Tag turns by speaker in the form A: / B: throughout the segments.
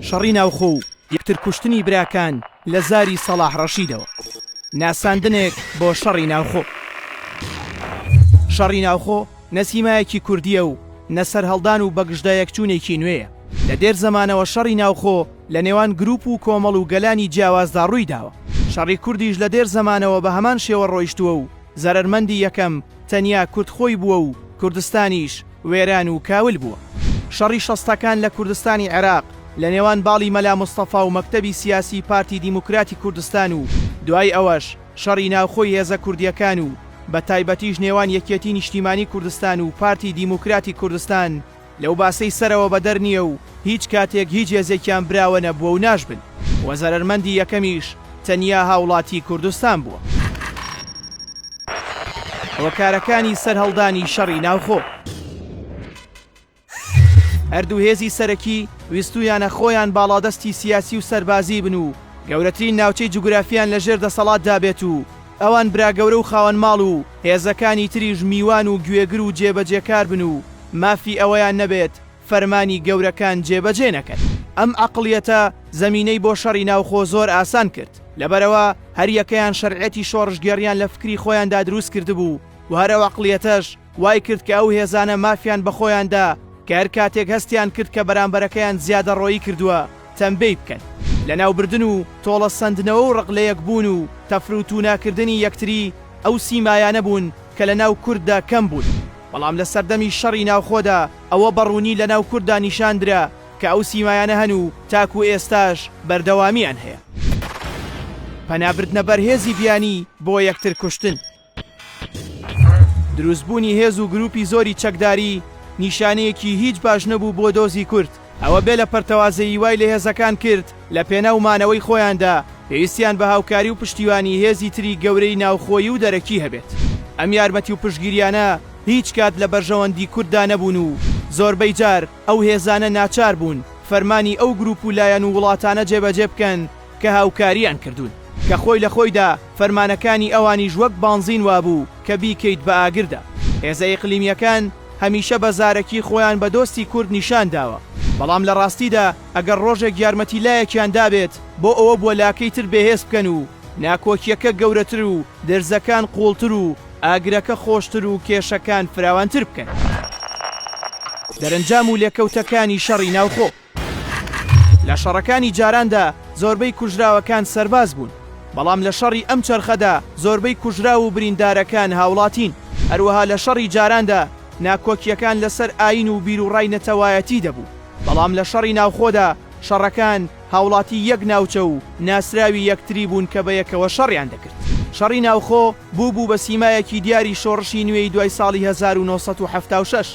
A: شەڕی ناوخۆ و یەکتر کوشتنی براکان لە زاری سەڵاح ڕەشیدەوە ناساندنێک بۆ شەڕی ناوخۆ شەڕی ناوخۆ نە سیمایەکی کوردیە و نە سەرهەڵدان و بەگژدا یەکچوونێکی نوێیە لە دێر زەمانەوە شەڕی ناوخۆ لە نێوان گروپ و کۆمەڵ و گەلانی جیاوازدا ڕووی داوە شەڕی کوردیش لە دێر زەمانەوە بە هەمان شێوە ڕۆیشتووە و زەرەرمەندی یەکەم تەنیا کورد خۆی بووە و کوردستانیش وێران و کاول بووە. شەڕی شەستەکان لە کوردستانی عێراق لە نێوان باڵی مەلا مستەفا و مەکتەبی سیاسیی پارتی دیموکراتی کوردستان و دوای ئەوەش شەڕی ناوخۆی هێزە کوردییەکان و بەتایبەتیش نێوان یەکێتیی نیشتیمانیی کوردستان و پارتی دیموکراتی کوردستان لەو باسەی سەرەوە بەدەر نییە و هیچ کاتێک هیچ هێزێکیان براوە نەبووە و ناشبن و زەرەرمەندی یەکەمیش تەنیا هاوڵاتیی کوردستان بووە. هۆکارەکانی سەرهەڵدانی شەڕی ناوخۆ. هەردوو هێزی سەرەکی ویستوویانە خۆیان باڵادەستی سیاسی و سەربازی بن و گەورەترین ناوچەی جوگرافییان لەژێر دەسەڵاتدا بێت و ئەوان براگەورە و خاوەنماڵ و هێزەکانی تریش میوان و گوێگر و جێبەجێکار بن و مافی ئەوەیان نەبێت فەرمانی گەورەکان جێبەجێ نەکەن. ئەم عەقڵیەتە زەمینەی بۆ شەڕی ناوخۆ زۆر ئاسان کرد، لەبەرئەوە هەر یەکەیان شەرعیەتی شۆڕشگێڕیان لە فکری خۆیاندا دروست کردبوو و هەر ئەو عەقڵیەتەش وای کرد کە ئەو هێزانە مافیان بە خۆیان دا کە هەر کاتێک هەستیان کرد کە بەرامبەرەکەیان زیادەڕۆیی کردووە تەمبێی بکەن. لەناوبردن و تۆڵەسەندنەوە و ڕق لەیەکبوون و تەفروتووناکردنی یەکتری ئەو سیمایانە بوون کە لەناو کورددا کەم بوون. بەڵام لە سەردەمی شەڕی ناوخۆدا ئەوە بە ڕوونی لە ناو کورددا نیشان درا کە ئەو سیمایانە هەن و تاکوو ئێستاش بەردەوامییان هەیە. پەنا بردنە بەر هێزی بیانی بۆ یەکتر کوشتن. دروست بوونی هێز و گرووپی زۆری چەکداری نیشانەیەکی هیچ باش نەبوو بۆ دۆزی کورد. ئەوە بێ لە پەرتەوازەیی وای لە هێزەکان کرد لە پێناو مانەوەی خۆیاندا پێویستیان بە هاوکاری و پشتیوانی هێزی تری گەورەی ناوخۆیی و دەرەکی هەبێت. ئەم یارمەتی و پشتگیریانە هیچ کات لە بەرژەوەندی کورددا نەبوون و زۆربەی جار ئەو هێزانە ناچار بوون فەرمانی ئەو گروپ و لایەن و وڵاتانە جێبەجێ بکەن کە هاوکاریان کردوون، کە خۆی لە خۆیدا فەرمانەکانی ئەوانیش وەک بانزین وابوو کە بیکەیت بە ئاگردا. هێزە ئیقلیمییەکان هەمیشە بە زارەکی خۆیان بە دۆستی کورد نیشان داوە، بەڵام لە ڕاستیدا ئەگەر ڕۆژێک یارمەتی لایەکیان دابێت بۆ ئەوە بووە لاکەی تر بێهێز بکەن و ناکۆکییەکە گەورەتر و درزەکان قووڵتر و ئاگرەکە خۆشتر و کێشەکان فراوانتر بکەن. دەرەنجام و لێکەوتەکانی شەڕی ناوخۆ. لە شەڕەکانی جاراندا زۆربەی کوژراوەکان سەرباز بوون، بەڵام لە شەڕی ئەم چەرخەدا زۆربەی کوژراو و بریندارەکان هاوڵاتین، هەروەها لە شەڕی جاراندا ناکۆکییەکان لەسەر ئایین و بیروڕای نەتەوایەتی دەبوو، بەڵام لە شەڕی ناوخۆدا شەڕەکان هاوڵاتی یەک ناوچە و ناسراوی یەکتری بوون کە بەیەکەوە شەڕیان دەکرد. شەڕی ناوخۆ بووبوو بە سیمایەکی دیاری شۆڕشی نوێی دوای ساڵی هەزار و نۆ سەد و حەفتا و شەش،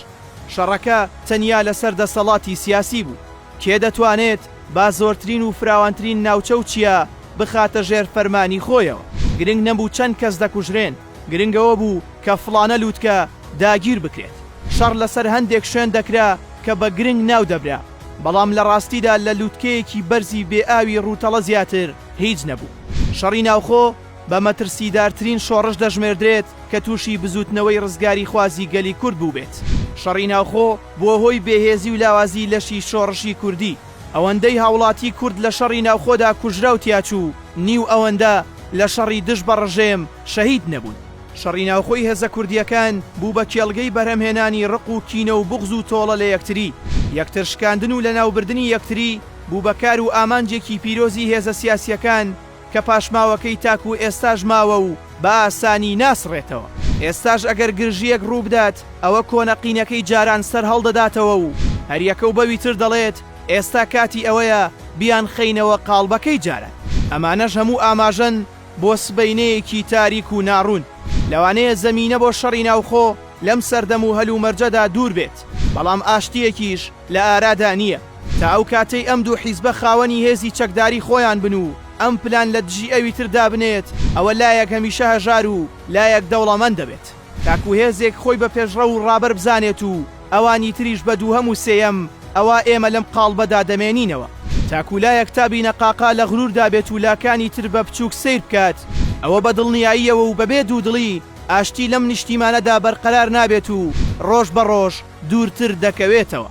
A: شەڕەکە تەنیا لەسەر دەسەڵاتی سیاسی بوو، کێ دەتوانێت با زۆرترین و فراوانترین ناوچە و چیا بخاتە ژێر فەرمانی خۆیەوە، گرنگ نەبوو چەند کەس دەکوژرێن، گرنگ ئەوە بوو کە فڵانە لووتکە داگیر بکرێت. شەڕ لەسەر هەندێک شوێن دەکرا کە بە گرنگ ناو دەبرا، بەڵام لە ڕاستیدا لە لووتکەیەکی بەرزی بێ ئاوی ڕووتەڵە زیاتر هیچ نەبوو. شەڕی ناوخۆ بە مەترسیدارترین شۆڕش دەژمێردرێت کە تووشی بزووتنەوەی ڕزگاریخوازی گەلی کورد بووبێت. شەڕی ناوخۆ بووە هۆی بێهێزی و لاوازی لەشی شۆڕشی کوردی، ئەوەندەی هاوڵاتی کورد لە شەڕی ناوخۆدا کوژرا و تیاچوو، نیو ئەوەندە لە شەڕی دژ بە ڕژێم شەهید نەبوون. شەڕی ناوخۆی هێزە کوردییەکان بوو بە کێڵگەی بەرهەمهێنانی ڕق و کینە و بوغز و تۆڵە لە یەکتری، یەکترشکاندن و لەناوبردنی یەکتری بوو بە کار و ئامانجێکی پیرۆزی هێزە سیاسییەکان، کە پاشماوەکەی تاکوو ئێستاش ماوە و بە ئاسانی ناسڕێتەوە. ئێستاش ئەگەر گرژییەک ڕوو بدات، ئەوە کۆنە قینەکەی جاران سەر هەڵدەداتەوە و هەریەکە و بەوی تر دەڵێت، ئێستا کاتی ئەوەیە بیانخەینەوە قاڵبەکەی جاران. ئەمانەش هەموو ئاماژەن بۆ سبەینێیەکی تاریک و ناڕوون. لەوانەیە زەمینە بۆ شەڕی ناوخۆ لەم سەردەم و هەلومەرجەدا دوور بێت، بەڵام ئاشتییەکیش لە ئارادا نییە تا ئەو کاتەی ئەم دوو حیزبە خاوەنی هێزی چەکداری خۆیان بن و ئەم پلان لە دژی ئەوی تر دابنێت، ئەوە لایەک هەمیشە هەژار و لایەک دەوڵەمەند دەبێت. تاکو هێزێک خۆی بە پێشڕەو و ڕابەر بزانێت و ئەوانی تریش بە دووهەم و سێیەم، ئەوا ئێمە لەم قاڵبەدا دەمێنینەوە. تاکو لایەک تا بینەقاقا لە غروردا بێت و لاکانی تر بە بچووک سەیر بکات، ئەوە بە دڵنیاییەوە و بەبێ دوودڵی ئاشتی لەم نیشتیمانەدا بەرقەرار نابێت و ڕۆژ بە ڕۆژ، دوورتر دەکەوێتەوە.